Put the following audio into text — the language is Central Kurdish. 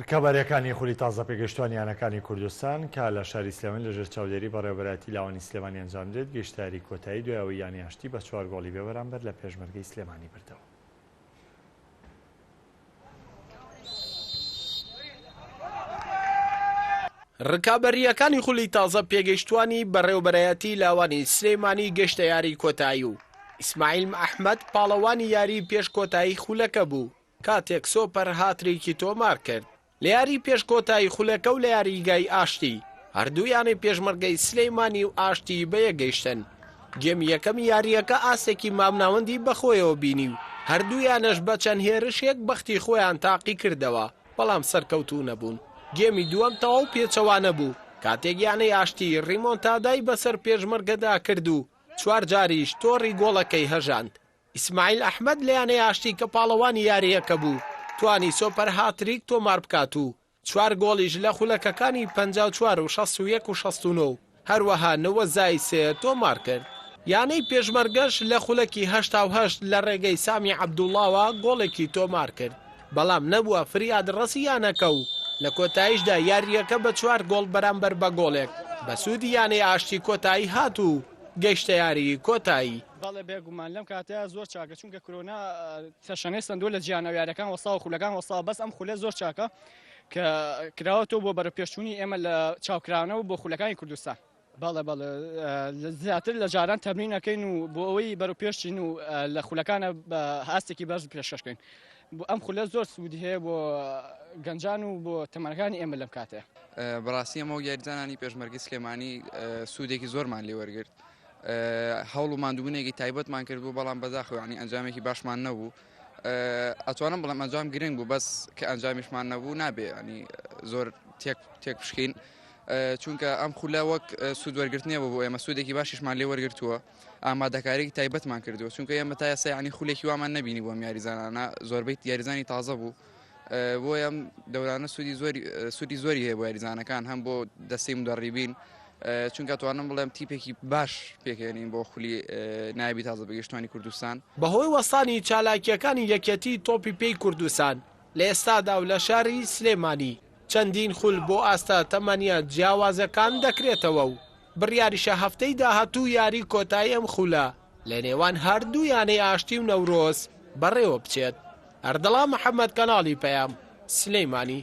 رکابەریەکانی خولی تازە پێگەشتوان یانەکانی کوردستان کە لە شاری سلێمانی لە ژێر چاودێری بەڕێوەبەرایەتی لاوانی سلێمانی ئەنجام درێت گەیشتە یاری کۆتایی دوای ئەوەی یانی ئاشتی بە چوار گۆڵی بێ بەرامبەر لە پێشمەرگەی سلێمانی بردەوە. رکابەریەکانی خولی تازە پێگەشتوانی بەڕێوەبەرایەتی لاوانی سلێمانی گەشتە یاری کۆتایی و ئیسماعیل ئەحمد پاڵەوانی یاری پێش کۆتایی خولەکە بوو کاتێک سۆپەر هاتریکی تۆمار کرد لە یاری پێش کۆتایی خولەکە و لە یاریگای ئاشتی، هەردوو یانەی پێشمەرگەی سلێمانی و ئاشتی بەیەکگەیشتن، گێمی یەکەمی یارییەکە ئاستێکی مامناوەندی بەخۆیەوە بینی و هەردوو یانەش بە چەند هێرشێک بەختی خۆیان تاقیکردەوە، بەڵام سەرکەوتوو نەبوون، گێمی دووەم تەواو پێچەوانە بوو، کاتێک یانەی ئاشتی ریمۆنتادای بەسەر پێشمەرگەدا کرد و چوارجاریش تۆڕی گۆڵەکەی هەژاند، ئیسماعیل ئەحمەد لە یانەی ئاشتی کە پاڵەوانی یارییەکە بوو، توانی سۆپەر هاتریک تۆمار بکات و چوار گۆڵیش لە خولەکەکانی پەنجا و چوار و شەست و یەک و شەست و نۆ و هەروەها نەوەد زائید سێ تۆمار کرد. یانەی پێشمەرگەش لە خولەکی هەشتا و هەشت لە رێگەی سامی عەبدوڵاوە گۆڵێکی تۆمار کرد، بەڵام نەبووە فریادڕەسی یانەکە و لە کۆتاییشدا یارییەکە بە چوار گۆڵ بەرامبەر بە گۆڵێک بە سوودی یانەی ئاشتی کۆتایی هات و گەیشتە یاریی کۆتایی. بەڵێ بێگومان لەم کاتەیە زۆر چاکە چونکە کرۆنا تەشەنەی سندوو لە جیانەوە یارەکان وەساو خولەکان وەسا بەس ئەم خولە زۆر چاکە کە کراوە تۆ بۆ بەرە پێشچوونی ئێمە لە چاوکراونەوە بۆ خولەکانی کوردستان. بەڵێ بەڵێ زیاتر لە جاران تەمرینەکەین و بۆ ئەوەی بەرەو پێشچین و لە خولەکانە بە هاستێکی بەرز پێشکەشکەین بۆ ئەم خولە زۆر سوودی هەیە بۆ گەنجان و بۆ تەمەەکانی ئێمە لەم کاتێ بڕاستی ئەمە یاریزانانی پێشمەرگی سلێمانی سوودێکی زۆرمان لێوەرگرت هەوڵ و ماندوبونێکی تایبەتمان کرد بوو بەڵام بەداخەوە یانی ئەنجامێکی باشمان نەبوو ئەتوانم بڵێم ئەنجام گرنگ بوو بەس کە ئەنجامیشمان نەبوو نابێ ینی زۆر تێک تێک پشکین چونکە ئەم خولە وەک سوود وەرگرتنێ بۆ ئێمە سوودێکی باشیشمان لێ وەرگتووە ئامادەکارێکی تایبەتمان کردو چونکە ئێمە تا یاسایانی خولێکی وامان نبینی بۆم یاریزانانە زۆربەی یاریزانی تازە بوو بۆیەم دەورانە سوودی زۆری سوودی زۆری هەیە بۆ یاریزانەکان هەم بۆ دەستی مدەڕیبین چونکە توانم بڵێم تیپێکی باش پێکێنین بۆ خولی نایبی تازە بەگەشتوانی کوردستان بەهۆی وەستانی چالاکیەکانی یەکێتی تۆپی پێی کوردستان لە ئێستادا و لە شاری سلێمانی چەندین خول بۆ ئاستە تەمەنیە جیاوازەکان دەکرێتەوە و بڕیاریشە هەفتەی داهاتوو یاری کۆتایی ئەم خولە لە نێوان هەر دوو یانەی ئاشتی و نەورۆز بەڕێوە بچێت. ئەردەڵان محەمەد کەناڵی پەیام، سلێمانی.